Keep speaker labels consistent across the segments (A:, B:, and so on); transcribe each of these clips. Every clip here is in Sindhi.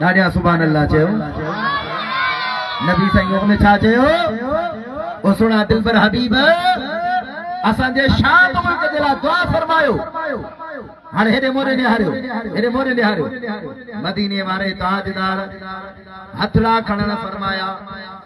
A: ڏاڏيان سبحان الله چيو نبي سائين ان ۾ ڇا چيو او سونا دلبر حبيب اسان جي شاد ملڪ جي لاء دعا فرمايو هاڻي هيڏي موري نهاريو هيڏي موري نهاريو مديني واري تاجدار هٿڙا کڻڻ فرمايا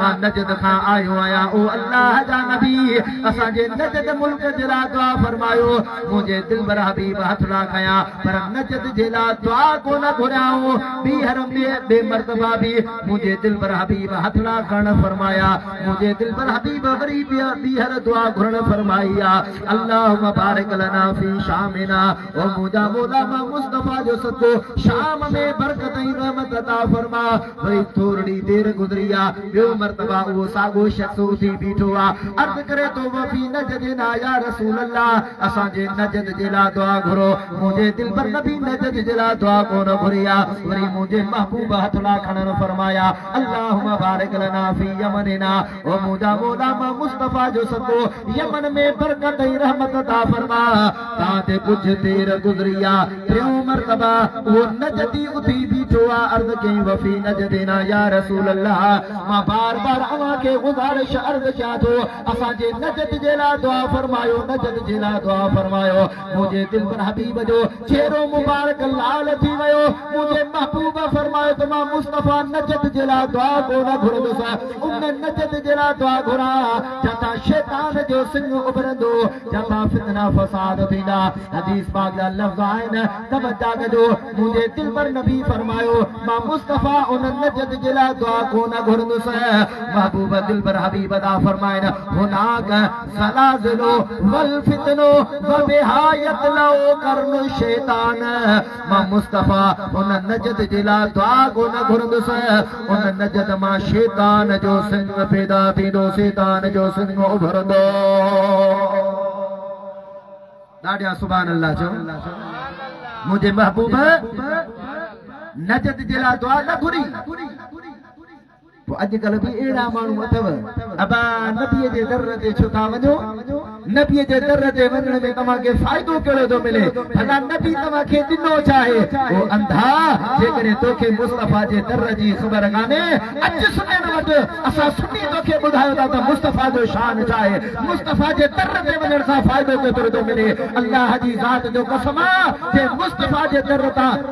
A: مان نجد کان آيو آهيان، او الله جا نبي! اسان جي نجد ملڪ جي لاء دعا فرمايو. منهنجي دلبر حبيب هٿ ٿا کنيان، پر نجد جي لاء دعا ڪونه گهريائون. ٻيهر ٻي مرتبه به منهنجي دلبر حبيب هٿ ٿا کڻڻ فرمايا. منهنجي دلبر حبيب وري ٻيهر دعا گهرڻ فرمائي آ، اللهم بارڪ لنا في شامنا، او منهنجا مولا! مان مصطفيٰ جو صدقو شام ۾ برڪت ۽ رحمت عطا فرما. وري ٿورڙي دير گذري آ، ٻيو مرتبه اهو ساڳو شخص اٿي بيٺو آ، عرض ڪري ٿو وفي نجد نا يا رسول الله! اسان جي نجد جي لا دعا گهرو، منهنجي دلبر نبي نجد جي لا دعا ڪونه گهري آ. وري منهنجي محبوب هٿ لا کڻڻ فرمايا، اللهم بارڪ لنا في يمننا. او منهنجا مولا مان مصطفيٰ جو سڳو يمن ۾ برڪت ۽ رحمت عطا فرما تان تي ڪجهه دير گذري آ ٽيون مرتبه اهو نجدي اٿي بيٺو آ عرض ڪيائين وفي نجدينا يا رسول الله مان بار بار اوهان کي گذارش عرض ڪيان ٿو اسان جي نجد جي لاء دعا فرمايو نجد جي لاء دعا فرمايو منهنجي دل پر حبيب جو چهرو مبارڪ لال ٿي ويو منهنجي محبوب فرمايو ته مان مصطفيٰ نجد جي لاء دعا ڪو نه گهرندس ان نجد جي لاء دعا گهران جتان شيطان جو سنگ اڀرندو جتان فتنا فساد ٿيندا حديث پاڪ جا لفظ آهن توجه ڪجو منهنجي دل پر نبي فرمايو مان مصطفيٰ ان نجد جي لاء دعا ڪو نه گهرندس محبوب دل پر حبيب دا فرمائن هناڪ سلا ضلع والفتنو وبها يطلع قرن الشيطان مان مصطفيٰ ان نجد جي لا دعا ڪو نه گهرندس ان نجد مان شيطان جو سنگ پيدا ٿيندو شيطان جو سنگ اڀرندو ڏاڍيان سبحان الله چو منهنجي محبوب نجد جي لا دعا نه گهري پوء اڄ ڪلهه به اهڙا ماڻهو اٿو. ابا نبيء جي در تي ڇو ٿا وڃو؟ نبيء جي در تي وڃڻ ۾ توهان کي فائدو ڪهڙو ٿو ملي؟ ڀلا نبي توهان کي ڏنو ڇا آهي؟ او انڌا! جيڪڏهن توکي مصطفيٰ جي در جي خبر ڪانهي، اچ سنين وٽ، اسان سني توکي ٻڌايون ٿا ته مصطفيٰ جو شان ڇا آهي، مصطفيٰ جي در تي وڃڻ سان فائدو ڪيترو ٿو ملي. الله جي ذات جو قسم آ! جي مصطفيٰ جي در تان.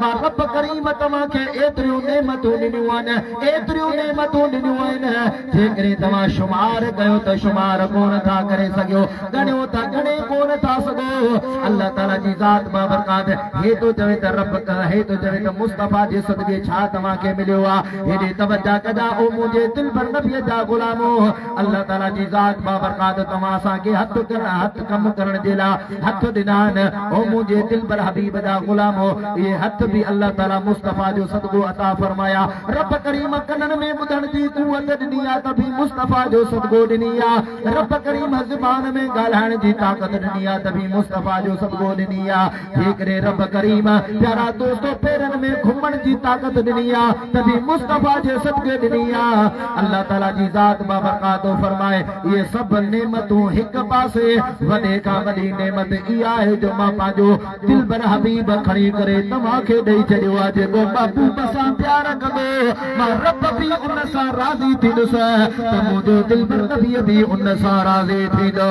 A: ته رب ڪريم توهان کي ايتريون نعمتون ڏنيون آهن ايتريون نعمتون ڏنيون آهن جيڪڏهن توهان شمار ڪيو ته شمار ڪونه ٿا ڪري سگهيو ڳڻيو ته ڳڻي ڪونه ٿا سگهو الله تعالي جي ذات بابرڪات هي ٿو چوي ته رب هي ٿو چوي ته مصطفيٰ جي صدقي ڇا توهان کي مليو آهي هيڏي توجه ڪجا او منهنجي دلبر نبي جا غلامو الله تعالي جي ذات بابرڪات توهان اسان کي هٿ ڪرڻ هٿ ڪم ڪرڻ جي لاء هٿ ڏنائين، او منهنجي دلبر حبيب جا غلامو! اهي هٿ به الله تعاليٰ مصطفيٰ جو صدقو عطا فرمايا. رب ڪريم ڪنن ۾ ٻڌڻ جي قوت ڏني آ ته به مصطفيٰ جو صدقو ڏني آ. رب ڪريم زبان ۾ ڳالهائڻ جي طاقت ڏني آ ته به مصطفيٰ جو صدقو ڏني آ. جيڪڏهن رب ڪريم پيارا دوستو پيرن ۾ گهمڻ جي طاقت ڏني آ ته به مصطفيٰ جي صدقي ڏني آ. الله تعاليٰ جي ذات بابرڪات فرمائي. اهي سڀ نعمتون هڪ پاسي، وڏي کان وڏي نعمت اها آهي جو مان پنهنجو دلبر حبيب کڻي ڪري توهان کي ڏئي ڇڏيو آهي جيڪو محبوب سان پيار ڪندو مان رب به ان سان راضي ٿيندس ته منهنجو دلبر نبي به ان سان راضي ٿيندو.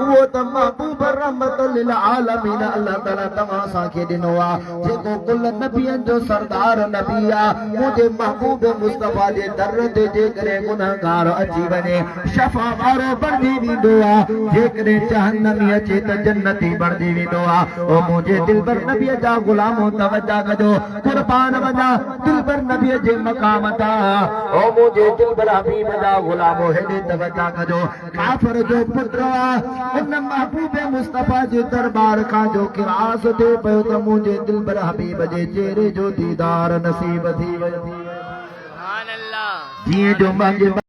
A: اهو ته محبوب رحمت للعالمين الله تعالي توهان اسان کي ڏنو آ جيڪو ڪل نبين جو سردار نبي آ منهنجي محبوب مصطفي جي در تي جيڪڏهن گنهگار اچي وڃي شفا وارو بڻجي ويندو آ جيڪڏهن جهنمي اچي ته جنتي بڻجي ويندو آ او منهنجي دلبر نبي جا غلامو توجه ڪجو قربان وڃا دلبر نبي جي مقام تان او منهنجي دلبر حبيب جا غلامو هيڏي توجه ڪجو ڪافر جو پٽ آ ان محبوب مصطفيٰ جي درٻار کان جو خراس ٿئي پيو ته منهنجي دلبر حبيب جي چهري جو ديدار نصيب ٿي ويو جيئن جو منهنجي